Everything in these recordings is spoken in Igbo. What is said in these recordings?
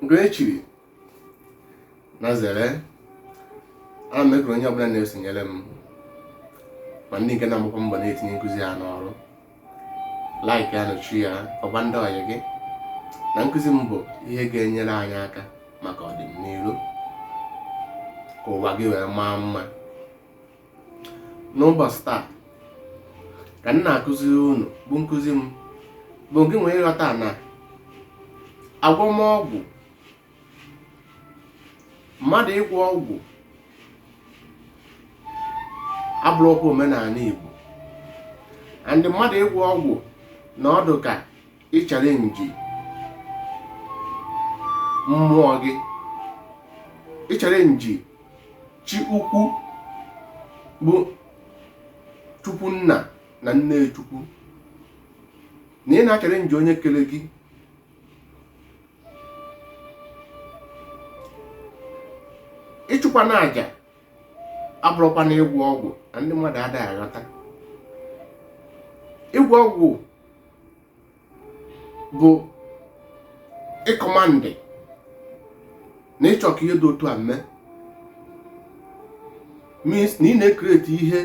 nke echiri na zere ana m ekele onye ọbụla na-esonyere m ma ndị nke na-agbakwa mbọ na-etinye nkụzi a n'ọrụ like ya na share ya gwakwa ndị ọyị gị na nkụzi m bụ ihe ga-enyere anyị aka maka ọdịnihu ka ụwa gị wee maa mma n'ụbọchị taa ka m na-akụziri unu bụ nkụzi m bụ nke nwere ịghọta na agwọm ọgwụ mmadụ ịgwọ ọgwụ abụrọkwa omenala Igbo and mmadụ ịgwọ ọgwụ na ọ dụ ka ịchalenji mmụọ gị ịchalenji chi ukwu bụ chukwu nna na nne chukwu na ị na-achalenji onye kere gị ịchụkwanụ aja abụrọkwanụ ịgwọ ọgwụ na ndị mmadụ adịghị aghọta ịgwọ ọgwụ bụ ịkọmandị na ị chọ ka ihe dị otu a mee means na ị na-ekreti ihe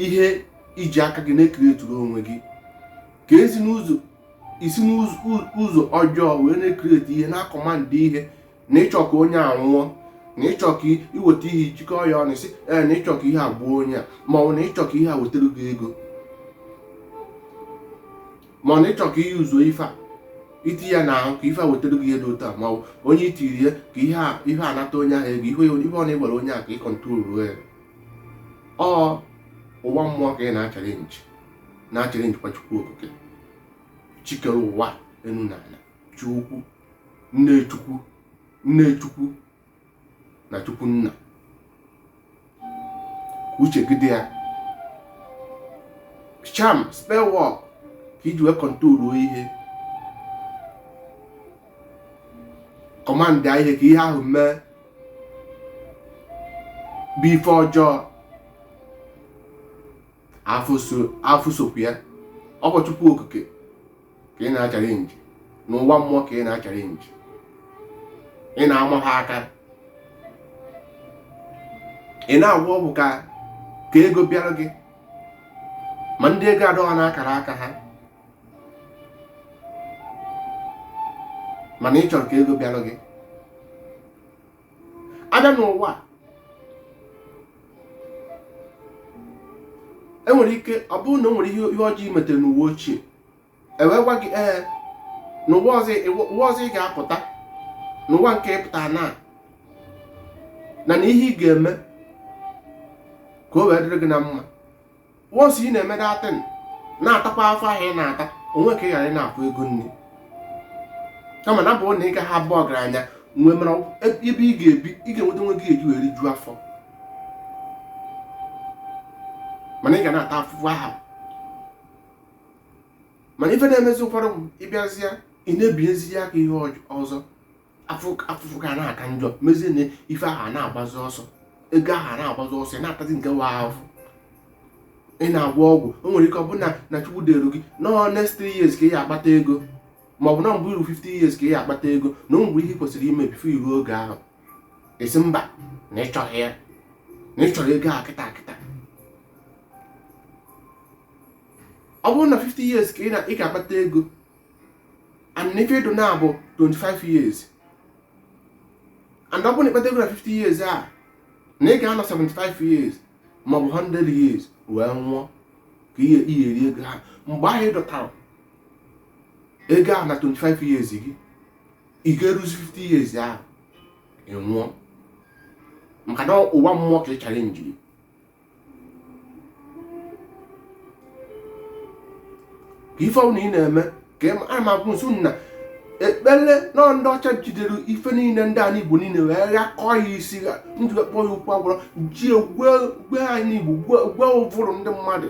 ihe i ji aka gị na-ekreturu onwe gị ka i si n'ụzọ ọjọọ wee na-ekreti ihe na-akọmandị ihe na ị chọ ka onye a nwụọ na ị chọ ka i weta ihe jikọọ ya ọnụ sị ee na ị chọ ka ihe a gbuo onye a ma ọ bụ na ị chọ ka ihe a wetara gị ego ma ọ na ị chọ ka i use ife a i tie ya n'ahụ ka ife a wetara gị ihe dị otu a ma ọ bụ onye itiri ya ka ihe a ihe a nata onye ahụ ego ihe ife ọ na-agwọrọ onye a ka ị kọntrolụọ ya ọ ụwa mmụọ ka ị na-achalenji na-achalenjikwa chukwu okike chi kere ụwa enu na ala chi ukwu nne chukwu nne chukwu na chukwu nna ka uche gị dị ya charm spell work ka i ji wee kọntrolu ihe kọmandị ihe ka ihe ahụ mee bụ ife ọjọọ afụ isi okwu ya ọ bụ Chukwu Okike ka ị na-achalenji na ụwa mmụọ ka ị na-achalenji ị na-ama ha aka ị na-agwọ ọgwụ ka ka ego bịara gị ma ndị ego adọghọ n'akara aka ha mana ị chọrọ ka ego bịara gị abịa n'ụwa enwere ike ọ bụrụ na o nwere ihe ọjọọ i metere n'ụwa ochie ewee gwa gị ee n'ụwa ọzọ ị ga-apụta n'ụwa nke ị pụta na na na ihe ị ga-eme ka o wee dịrị gị na mma once ị na-eme that thing na-atakwa afụfụ ahụ ị na-ata o nwe ka ị ghara ị na-akwụ ego nri kama na bụrụ na ị gaghị abụ ọgaranya nwee mara ebe ị ga-ebi ị ga-enweta nke ị ga-eji were rijuo afọ mana ị ga na-ata afụfụ aha mana ife na-emezi ụfọdụ ị bịazịa ị na-ebinyezi ya aka ihe ọzọ afụfụ ga na-aka njọ mezie na ife ahụ a na-agbazi ọsọ ego ahụ a na-agbazi ọsọ ị na-atazi nke wa afụfụ ị na-agwọ ọgwụ o nwere ike ọ bụrụ na chukwu deeru gị na ọ next 3 years ka ị ya akpata ego ma ọ bụ na ọ bụ i ru 50 years ka ị ya akpata ego na o nwere ihe i kwesịrị ime before i ru oge ahụ ị sị mba na ị chọghị ya na ị chọrọ ego a kịta kịta ọ bụrụ na 50 years ka ị ga-akpata ego and ife ị dụ now bụ 25 years and ọ bụrụ na ị kpata ego na 50 years a na ị ga-anọ 75 years maọbụ 100 years wee nwụọ ka ị ya-eri ego aha mgbe ahụ ị dọtara ego a na 25 years gị ị ga-eruzi 50 years ahụ ị nwụọ maka na ụwa mmụọ ka ị challenge-iri ka ife ọbụla ị na-eme ka a ma akwụ nso na ekpere na ndị ọcha jidere ife niile ndị anyị igbo niile wee ghakọọ ya isi ha ndị wee kpọọ ya ọgwụ a gwọrọ ji gwe anyị igbo gwe ụvụrụ ndị mmadụ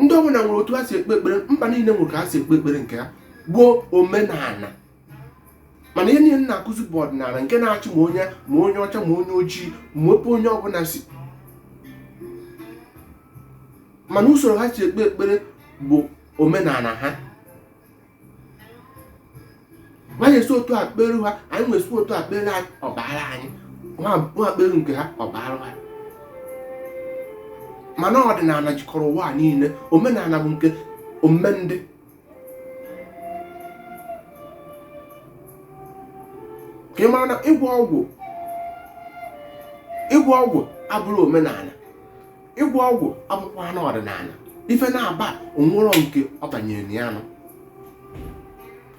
ndị ọbụla nwere otu ha si ekpe ekpere mba niile nwere ka ha si ekpe ekpere nke ha bụ omenala mana ihe niile na-akụzi bụ ọdịnala nke na-achị ma onye ma onye ọcha ma onye ojii ma ebe onye ọbụla si mana usoro ha si ekpe ekpere bụ omenala ha nwa anyị esi otu a kpere ha anyị nwa esi otu a kpere anyị ọ baara anyị nwa kpere nke ha ọ baara ha mana ọdịnala jikọrọ ụwa niile omenala bụ nke omume ndị ka ị mara na ịgwọ ọgwụ ịgwọ ọgwụ abụrọ omenala ịgwọ ọgwụ abụkwanụ ọdịnala ife na-aba o nwerọ nke ọ banyere na ya nọ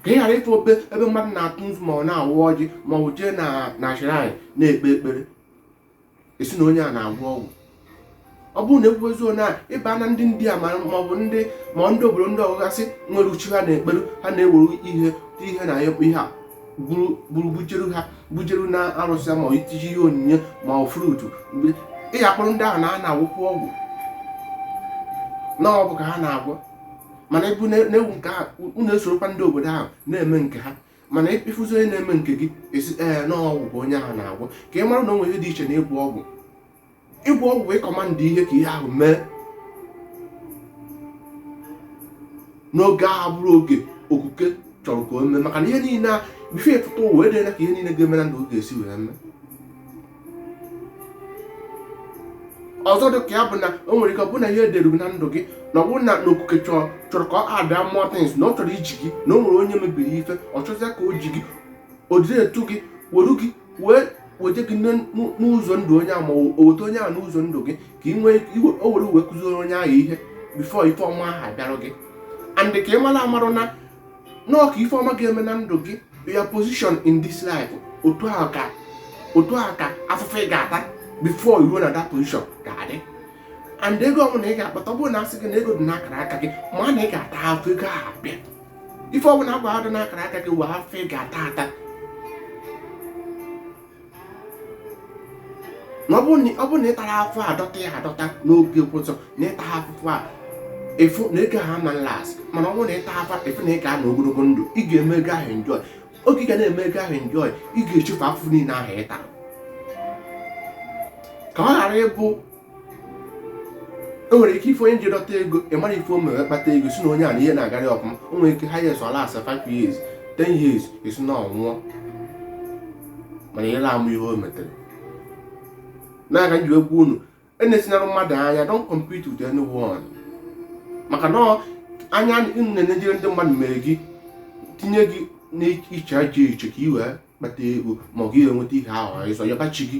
ka ị ghara ịfụ ebe mmadụ na-atụ nzu ma ọ na-awa ọjị ma ọ bụ jee na na shrine na-ekpe ekpere esi na onye a na-agwọ ọgwụ ọ bụrụ na ekwubezo na ịba na ndị ndị a ma ọ bụ ndị ma ndị obodo ndị ọgụgasị nwere chi ha na-ekperu ha na-ewere ihe ihe na ihe a buru bujeru ha bujeru na arụsị ma ọ itiji ihe onyinye ma ọ fruit ị ya-akpọrọ ndị ahụ na ha na-agwọkwa ọgwụ na ọgwụ ka ha na-agwọ mana ebu na-ewu nke ahụ unu esorokwa ndị obodo ahụ na-eme nke ha mana ị fụzi onye na-eme nke gị esi ee na ọgwụ ka onye ahụ na-agwọ ka ị mara na o nwe ihe dị iche na ịgwọ ọgwụ ịgwọ ọgwụ ịcommand ihe ka ihe ahụ mee n'oge abụrọ oge okike chọrọ ka o mee maka na ihe niile a before ị pụta ụwa edela ka ihe niile ga-eme na ndụ ga-esi wee mee ọzọ dị ka ya bụ na o nwere ike ọ bụ na ihe edere na ndụ gị na ọ bụrụ na na okike chọrọ ka ọ ada mmụọ tins na ọ chọrọ iji gị na o nwere onye mebiri ife ọ chọzịa ka o ji gị o jide etu gị were gị wee weje gị n'ụzọ ndụ onye ahụ ma o weta onye ahụ n'ụzọ ndụ gị ka ị nwee o were wee kụziere onye ahụ ihe before ife ọma ahụ abịara gị and ka ị mara amarụ na na ọ ka ife ọma ga-eme na ndụ gị your position in this life otu ahụ ka otu ahụ ka afụfụ ị ga-ata before i ruo na that position ga-adị and ego ọbụla ị ga-akpata ọ bụrụ na a sị gị na ego dị n'akara aka gị mana ị ga-ata afụfụ ego ahụ abịa ife ọbụla a gwa dị n'akara aka gị nwee afụfụ ị ga-ata ata na ọ bụrụ na ị tarọ afụfụ a dọta ya adọta n'oge ụzọ na ịta afụfụ a ị fụ na ego ahụ ama last mana ọ bụrụ na ị taa afụfụ ị fụ na ị ga-anọ ogologo ndụ ị ga-eme ego ahụ enjoy oge ị ga na-eme ego ahụ enjoy ị ga-echefu afụfụ niile ahụ ị tara ka ọ ghara ịbụ o nwere ike ife onye ji dọta ego ị marọ ife o mere kpata ego si na onye a na ihe na-agara ya ọfụma o nwere ike highest ọ last 5 years 10 years esi na ọ nwụọ mana ihe na-amụ ihe o metere nya ka m ji agwa unu enesinara mmadụ anya don't compete with anyone maka na anya na-enejere ndị mmadụ mere gị tinye gị n'ịchụ aja ịchụ ka i wee kpata ego ma ọ gị enweta ihe ahụ ịzọ ya be chi gị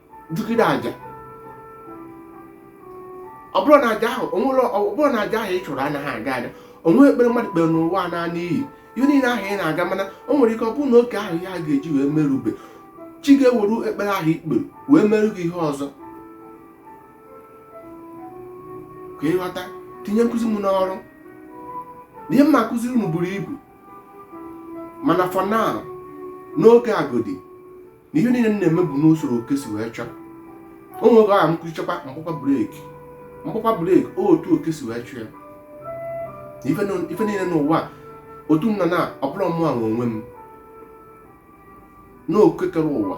chụgide aja ọ bụrụ na aja ahụ o nwere ọ bụrụ na aja ahụ ị chụrụ anaghị aga aga o nwee ekpere mmadụ kpere n'ụwa a naa n'iyi ihe niile ahụ ị na-aga mana o nwere ike ọ bụrụ na oge ahụ ihe a ga-eji wee mee erube chi ga-ewere ekpere ahụ i kpere wee merụ gị ihe ọzọ ka ị ghọta tinye nkụzi m n'ọrụ na ihe m ma akụziri unu buru ibu mana for now n'oge a godi na ihe niile na-eme bụ n'usoro oke si wee chọọ o nwere aha m kwuchakwa m kpọkwa breki m kpọkwa breki otu oke si wee chọọ ya ife niile n'ụwa otu m nọ na ọ bụrọ mụ nwe onwe m na oke kere ụwa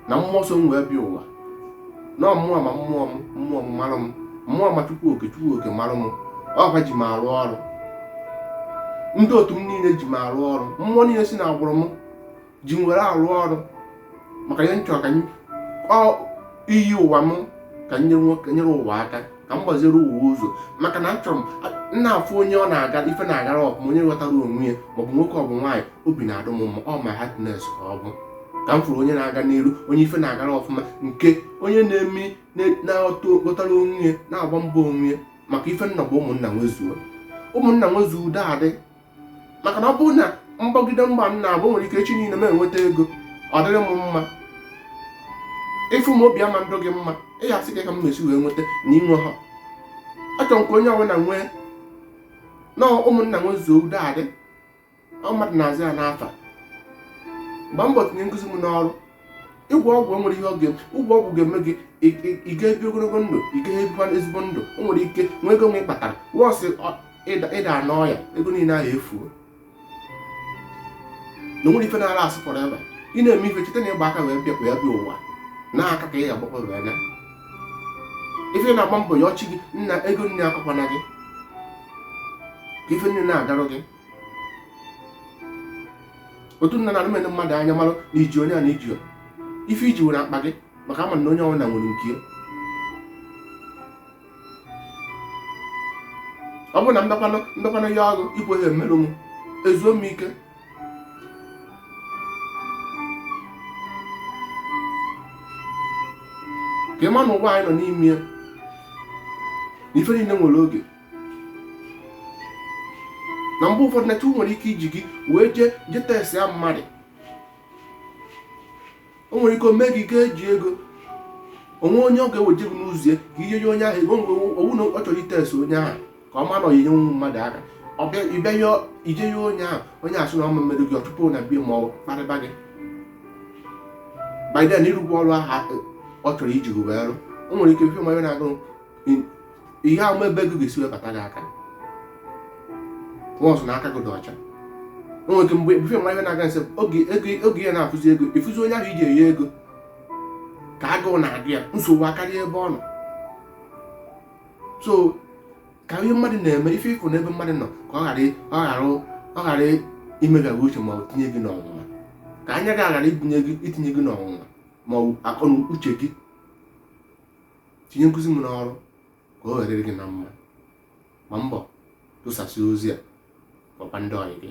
na mmụọ so m wee bịa ụwa na mmụọ ma mmụọ m mmụọ m mara m mmụọ ma chukwu oke chukwu oke mara m ọ ha ji m arụ ọrụ ndị otu m niile ji m arụ ọrụ mmụọ niile si na agbụrụ m ji m were arụ ọrụ maka ihe m chọrọ ka iyi ụwa m ka m nyere ụwa aka ka m gbaziri ụwa ụzọ maka na achọrọ m na-afụ onye ọ na-aga ife na-agara ọfụma onye ghọtara onwe ya maọbụ nwoke ọbụ nwaanyị obi na-adụ m mma ọ my happiness ka ọ bụ ka m fụrụ onye na-aga n'iru onye ife na-agara ọfụma nke onye na-eme na-aghọtara onwe ya na-agba mbọ onwe ya maka ife m nọ bụ ụmụnna nwezuo ụmụnna nwezuo udo adị maka na ọ bụrụ na m gbagide mbọ m na-agba nwere ike echi niile m enweta ego ọ dịrị m mma ị fụ m obi ama adụ gị mma ị ya-asị kee ka m mesi wee nweta na i nwehọ achọrọ m ka onye ọbụla nwee na ụmụnna nwe zuo udo adị mmadụ na-azụ ya n'afa gbaa mbọ tinye nkụzi m n'ọrụ ịgwọ ọgwụ nwere ihe ọ ga-eme ịgwọ ọgwụ ga-eme gị ị ga-ebi ogologo ndụ ị ga-ebikwa ezigbo ndụ o nwere ike nwee ego nne ị kpatara once ị da n'ọya ego niile ahụ efuo na nwere ife na-ala asụ fọrọ ebe ị na-eme ife cheta na ị gba aka wee bịakwa ya bịa ụwa na aka ka ị ga-agbakwa wee naa ife na-agba mbọ ya ọchị gị nna ego nne akọkwana gị ka ife nne na-agarụ gị otu m nọ na anarọ m ene mmadụ anya mara na iji onye a na iji ife i ji were akpa gị maka ama m na onye ọbụna nwere nke ya ọ bụrụ na mbakwanụ mbakwanụ ya ọrụ ịbụ onye mmerụ m ezuo m ike ka ị ma na ụwa anyị nọ n'ime ya na ife niile nwere oge na mgbe ụfọdụ na chukwu nwere ike iji gị wee jee jee testịa mmadụ o nwere ike o mee gị ga-eji ego o nwe onye ọ ga-eweje gị n'ụzọ ya ka ị nye onye ahụ ego mgbe ọ wụ na ọ chọrọ itest onye ahụ ka ọ ma na ọ ya-enyenwu mmadụ aka ị bịa ya i jee ya onye ahụ onye asị na ọ ma emerụ gị ọ chụpụ na be ya ma ọ kparịba gị by then ị rụgo ọrụ ahụ ọ chọrọ iji gị wee rụ o nwere ike ife manya na-agụ ihe ama ebe ego ga-esi webata gị aka ọsụ na aka gị dị ọcha o nwere ike mgbe ebufe mma ihe na-aga nse oge ego oge ya na-afụzi ego ịfụzi onye ahụ iji enye ego ka agụụ na-agụ ya nsogbu akarịa ebe ọ nọ so ka ihe mmadụ na-eme ife ịfụ n'ebe mmadụ nọ ka ọ ghara ị- ọ ghara ọ ghara imegha gị uche ma ọ tinye gị n'ọnwụnwa ka anya gị aghara ibunye gị itinye gị n'ọnwụnwa ma ọ bụ akọ na uche gị tinye nkuzi m n'ọrụ ka ọ ga-adịrị gị na mma gbaa mbọ tụsasị ozi a gwakwa ndị ọyị gị